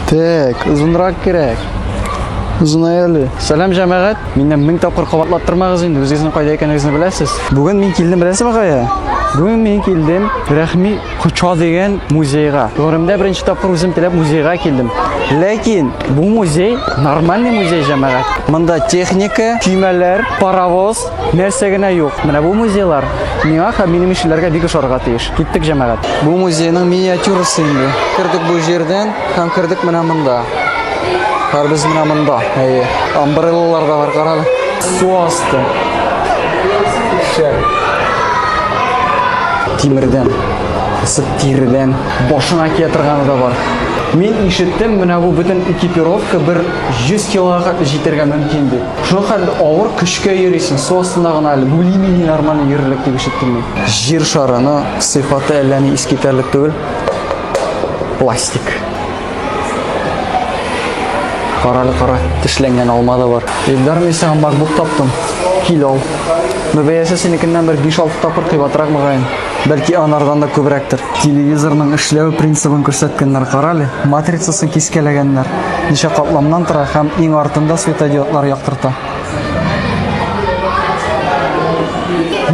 Так, озынрак кирәк. Озынай әле. Сәлам җәмәгать. Миннән мең тапкыр кабатлап тормагыз инде. Үзегезнең кайда икәнегезне беләсез. Бүген мин килдем, беләсезме кая? Бүген мин килдем Рәхми Коча дигән музейга. Гомеремдә беренче тапкыр үзем теләп музейга килдем. Ләкин бу музей нормальный музей җәмәгать. Монда техника, көймәләр, паровоз, нәрсә генә юк. Менә бу музейлар миңа һәм минем ишеләргә бик ошарга тиеш. Киттек, җәмәгать. Бу музейның миниатюрасы инде. Кердек бу җирдән һәм кердек менә монда. Хәрбез менә монда. Әйе. Амбреллалар да бар, карале. Су асты. Шәр. Тимердән. Сып тирдән. Башына кия торганы да бар. Мин ишеттем, менә бу бөтен экипировка бер 100 килога җитәргә мөмкин дип. Шуңа хәтле авыр көчкә йөрисең, су астында гына әле. Бүлими нормально йөрерлек дип ишеттем мин. Җир шары, но сыйфаты әллә ни искитәрлек түгел. Пластик. Каралы кара, тешләнгән алма да бар. Илдар, мин сиңа MacBook таптым. Кил ал. Но бәясе синекеннән бер 5-6 тапкыр кыйбатрак мөгаен. Бәлки анардан да күбрәктер. Телевизорның эшләү принцибын күрсәткәннәр, карале. Матрицасын кискәләгәннәр. Ничә катламнан тора һәм иң артында светодиодлар яктырта.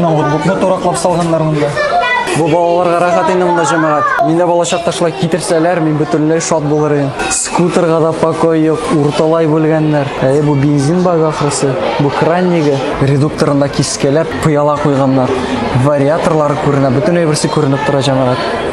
ноутбукны тураклап салганнар монда бу балаларга рәхәт инде монда җәмәгать мин дә балачакта шулай китерсәләр мин бөтенләй шат булыр идем скутерга да покой юк урталай бүлгәннәр әйе бу бензин багы ахрысы бу кран ниге редукторында кискәләп пыяла куйганнар вариаторлары күренә бөтен әйберсе күренеп тора җәмәгать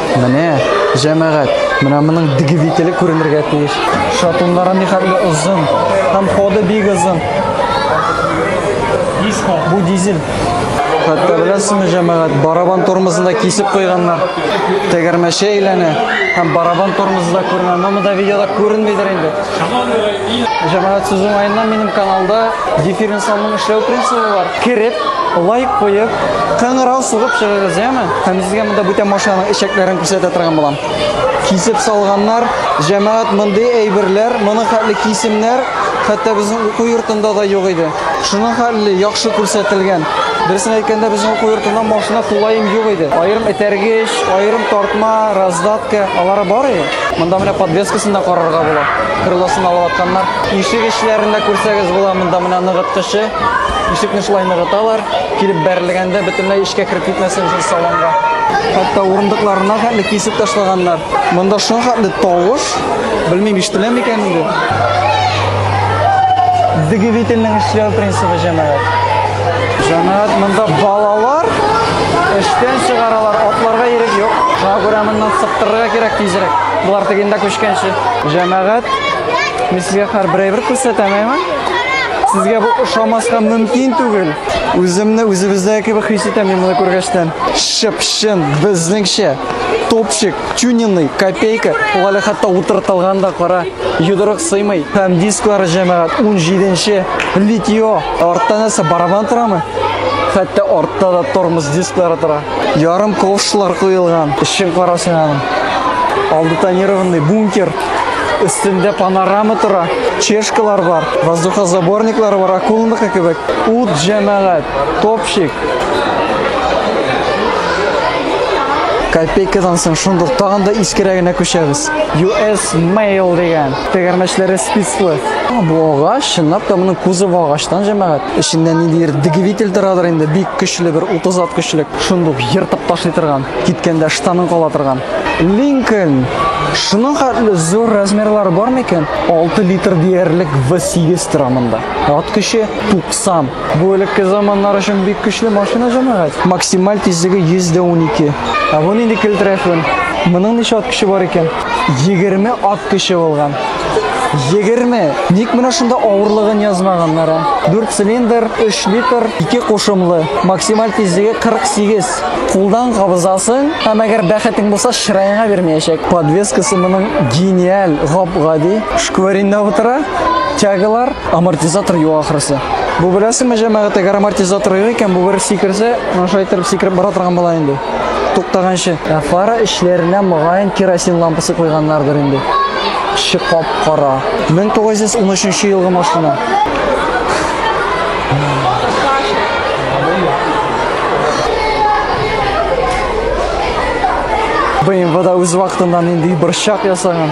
Менә, җәмәгать, менә моның двигателе күренергә тиеш. Шатуннары ни хәтле озын, һәм ходы бик озын. Бу дизель. Хәтта беләсезме, җәмәгать, барабан тормозында кисеп куйганнар. Тәгәрмәче әйләнә һәм барабан тормозы да күренә. Аны монда видеода күренмидер инде. Җәмәгать сүз уңаеннан минем каналда дифференциалның эшләү принцибы бар. Кереп, лайк куеп, кыңгырау сугып чыгыгыз, яме? Һәм сезгә монда бүтән машинаның эчәкләрен күрсәтә торган булам. Кисеп салганнар, җәмәгать мондый әйберләр, моның хәтле кисемнәр хәтта безнең уку йортында да юк иде. Шуның хәтле яхшы күрсәтелгән. Дөресен әйткәндә, безнең уку йортында машина тулаем юк иде. Аерым этәргеч, аерым тартма, раздатка, алары бар иде. Монда менә подвескасын да карарга була. Крылосын алып атканнар. Ишек эчләрен дә күрсәгез була. Монда менә ныгыткычы. Ишекне шулай ныгыталар. Килеп бәрелгәндә бөтенләй эчкә кереп китмәсен өчен салонга. Хәтта урындыкларына хәтле кисеп ташлаганнар. Монда шахатлы тавыш. Белмим, ишетелә микән инде. Двигательнең эшләү принцибы җәмәгать. Җәмәгать монда балалар эштән чыгаралар, атларга ирек юк. Шуңа күрә моннан сыптырырга кирәк тизрәк. Болар тегендә күчкәнче. Җәмәгать, мин сезгә хәр бер әйбер күрсәтәм, әйме? Сезгә бу ошамаска мөмкин түгел. Үземне үзебездәге кебек хис итәм мин моны күргәчтән. Чып-чын, безнеңчә, топчик. тюнинный копейка ул әле хәтта утыртылган да кара йодрык сыймый һәм дисклары җәмәгать 17 литио арттан нәрсә барабан торамы хәтта артта да тормоз дисклары тора ярым ковшлар куелган эшен карасын аның алды тонированный бункер өстендә панорама тора чешкалар бар воздухозаборниклар бар акулныкы кебек ут җәмәгать топ Чик. Копейкадан соң шундук тагын да искерәгенә күчәбез. US Mail дигән тегәрмәчләре спислы. Бу агач, чынлап та моның кузовы агачтан җәмәгать. Эчендә ниндидер двигатель торадыр инде, бик көчле бер 30 ат көчлек, шундук ертып ташлый торган, киткәндә штанын кала торган. Lincoln Шуның хәтле зур размерлары бар микән? 6 литр диярлек V8 тора монда. Ат көче 90 Бу элекке заманнар өчен бик көчле машина җәмәгать. Максималь тизлеге 112. Ә бу нинди килтерәфен? Моның ничә ат көче бар икән? 20 ат көче булган. 20. Ник менә шунда авырлыгын язмаганнар? 4 цилиндр, 3 литр, 2 кушымлы. Максималь тизлеге 48. Кулдан кабызасың, һәм әгәр бәхетең булса, чыраеңа бирмәячәк. Подвескасы моның гениаль, гап-гади. Шкваринда утыра, тягалар, Амортизатор юа ахрысы. Бу беләсеңме, җәмәгать, әгәр амортизатор юк икән, бу бер сикерсә, менә шулай итеп сикереп бара торган була инде. Туктаганчы. Ә фара эчләренә мөгаен керосин лампасы куйганнардыр инде. Эче кап-кара. 1913 елгы машина. БМВда үз вакытында нинди борчак ясаган.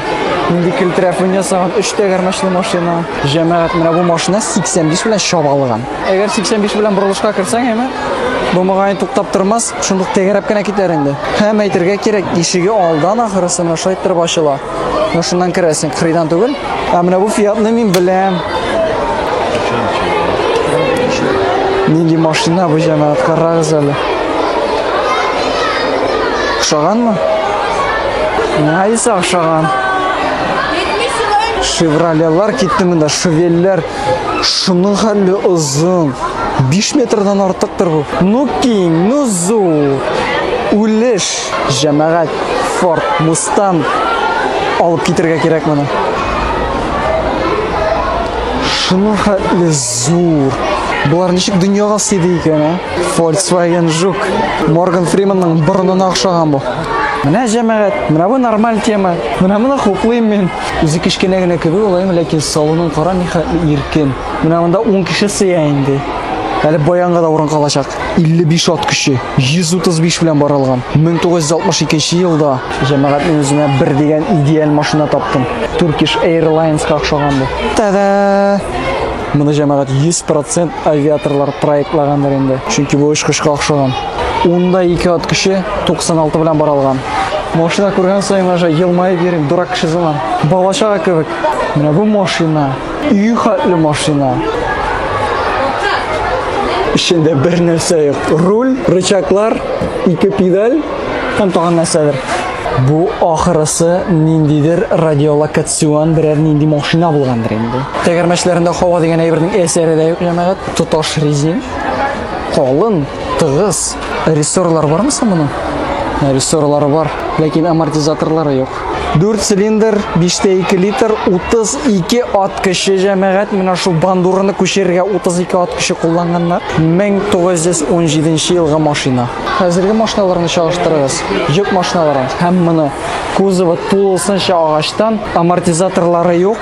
Инде килтерә фон ясаган 3 тәгәрмәчле машина. Җәмәгать менә бу машина 85 белән чабалган. Әгәр 85 белән борылышка керсәң, әйме, бу мөгаен туктап тормас, шундук тәгәрәп кенә китәр инде. Һәм әйтергә кирәк, ишеге алдан ахырысы менә шулай иттереп ачыла. Менә шуннан керәсең, кырыйдан түгел. Ә менә бу Фиатны мин беләм. Нинди машина бу җәмәгать, карагыз әле. Ошаганмы? Найса ошаган. Шевролелар китте монда, шевелләр. Шуның хәлле озын. 5 метрдан артыктыр бу. Ну киң, ну зур. Үлеш, җәмәгать, Форд, Мустанг алып китергә кирәк моны. Шуның хәтле зур. Болар ничек дөньяга сыйды икән, а? Volkswagen Жук. Морган Фриманның борынына охшаган бу. Менә җәмәгать, менә бу нормаль тема. Менә моны хуплыйм мин. Үзе кечкенә генә кеби улаем, ләкин салонын кара ни хәтле иркен. Менә монда 10 кеше сыя инде. Әле баянга да урын калачак. 55 ат көче, 135 белән барылган. 1962 елда җәмәгать мин үземә бер дигән идеаль машина таптым. Turkish Airlines ка охшаган бу. Та-да! Моны җәмәгать 100% авиаторлар проектлагандыр инде. Чөнки бу очкычка охшаган. Унда ике ат кеше 96 белән бара алган. Машина күргән саен гына елмаеп йөрим, дурак кеше заман. Балачага кебек. Менә бу машина, үй хәтле машина. Эчендә бер нәрсә юк. Руль, рычаклар, ике педаль һәм тагын нәрсәдер. Бу ахырысы ниндидер радиолокацион берәр нинди машина булгандыр инде. Тәгәрмәчләрендә хава дигән әйбернең әсәре дә юк, җәмәгать. Тоташ резин. Калын, Тыгыз. Рессорлар бармы соң моның? Ә, Рессорлары бар, ләкин амортизаторлары юк. 4 цилиндр, 5 тә 2 литр, 32 ат көче җәмәгать. Менә шул бандураны күчерергә 32 ат көче кулланганнар. 1917 елгы машина. Хәзерге машиналарны чагыштырыгыз. Йөк машиналары һәм моны. Кузовы тулысынча агачтан, амортизаторлары юк.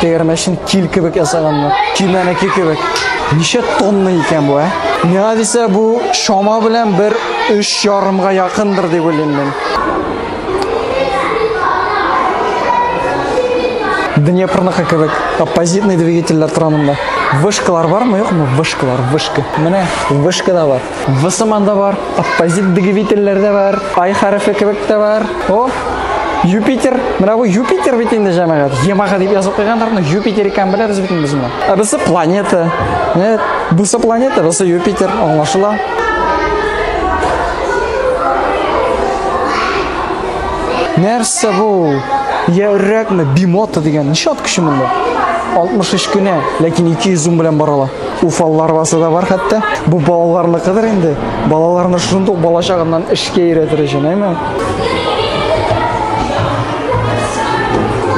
Тегермәчен кил кебек ясаганнар. Кимәнеке кебек. Ничә тонна икән бу, ә? Миңа дисә бу шома белән бер өч ярымга якындыр дип уйлыйм мин. Днепрныкы кебек оппозитный двигательләр тора монда. Вышкалар бармы, юкмы? Вышкалар, вышка. Менә вышка да бар. В сыман да бар, оппозит двигательләр дә бар, I хәрефе кебек тә бар. О, Юпитер, менә бу Юпитер бит инде җәмәгать. Ямага дип язып куйганнар, но Юпитер икән беләбез бит без моны. Ә бусы планета. Менә бусы планета, бусы Юпитер, аңлашыла. Нәрсә бу? Я үррәкме? Бимота дигән. Ничә ат көче монда? 63 кенә, ләкин 200 ум белән барала. Уфаллы арбасы да бар хәтта. Бу балаларныкыдыр инде. Балаларны шундук бала чагыннан эшкә өйрәтер өчен, әйме?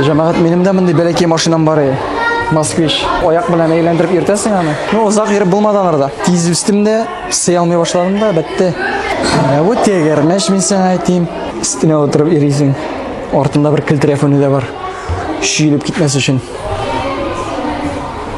Җәмәгать, минем дә мондый бәләкәй машинам бар иде. Москвич. Аяк белән әйләндереп йөртәсең аны. Ну, озак йөреп булмады анарда. Тиз үстем дә, сый алмый башладым да, бетте. Ә бу тегермәч мин сиңа әйтим. Өстенә утырып йөрисең. Артында бер килтерәфоне дә бар. Шиелеп китмәс өчен.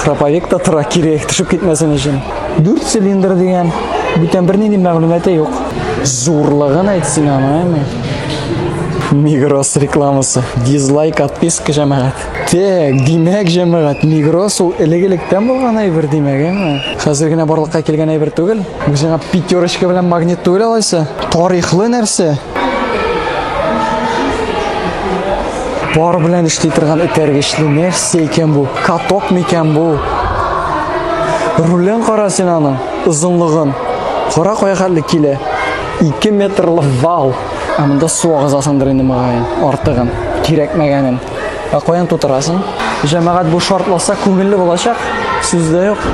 Храповик та тора кире төшеп китмәсен өчен. 4 цилиндр дигән бүтән бернинди мәгълүматы юк. Зурлыгын әйтсен аны, Мигрос рекламасы. Дизлайк отписка җәмәгать. Тәк, димәк җәмәгать, Мигрос ул элек-электән булган әйбер димәк, әме. Хәзер генә барлыкка килгән әйбер түгел. Үзеңә пятерочка белән магнит түгел алайса. Тарихлы нәрсә. Бар белән эшли торган этәргечле нәрсә икән бу? Каток микән бу? Рулен кара син аның, озынлыгын. Кара кая хәтле килә. 2 метрлы вал. Ә монда су агызасыңдыр инде мөгаен, артыгын, кирәкмәгәнен. Ә каян тутырасың? Җәмәгать бу шартласа күңелле булачак, сүз дә юк.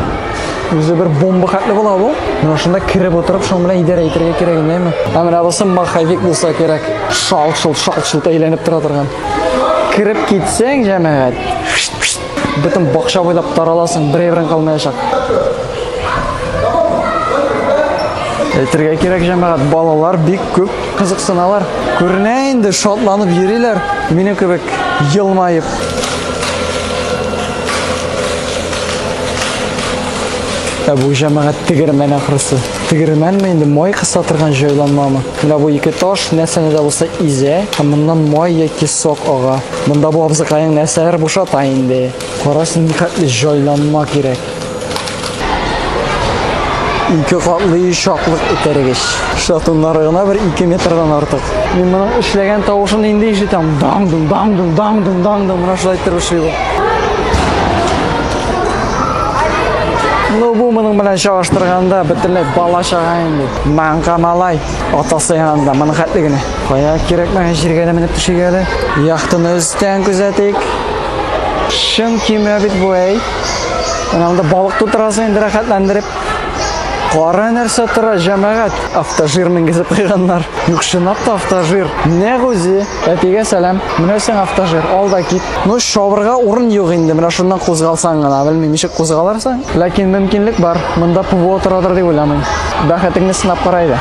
Үзе бер бомба хәтле була бу. Менә шунда киреп утырып, шуның белән идарә итәргә кирәк инде. Ә менә булса маховик булса кирәк. Шалт-шулт, шалт-шулт әйләнеп тора торган. Киреп китсәң, җәмәгать. Бөтен бакча буйлап тараласың, бер әйберен калмаячак. Әйтергә кирәк, җәмәгать, балалар бик күп кызыксыналар. Күренә инде, шатланып йөриләр, минем кебек елмаеп. Ә бу җәмәгать тегермән ахрысы. Тегермәнме инде май кыса торган җайланмамы? Менә бу ике таш нәрсәне дә булса изә, һәм моннан май яки сок ага. Монда бу абзыкаең нәрсәләр бушата инде. Карасын ни хәтле җайланма кирәк. Ике катлы чаклык этәргеч. Шатуннары гына бер 2 метрдан артык. Мин моның эшләгән тавышын инде ишетәм. Даң-дың, даң-дың, даң-дың, даң-дың, менә шулай итеп эшли бу. Ну, бу моның белән чагыштырганда бөтенләй бала чага инде. Маңка малай атасы янында моның хәтле генә. Кая кирәкмәгән җиргә дә менеп төшергә дә. Яхтыны өстән күзәтик. Чын кимә бит бу әй. Менә монда балык тутырасы инде рәхәтләндереп. Кара нәрсә тора, җәмәгать. Автожир менгезеп куйганнар. Юк, чынлап та автожир. Нәгүзе. Әтигә сәлам. Менә сиңа автожир, ал да кит. Ну, шавырга урын юк инде, менә шуннан кузгалсаң гына, белмим, ничек кузгалырсың. Ләкин мөмкинлек бар, монда ПВО торадыр дип уйламыйм. Бәхетеңне сынап кара иде.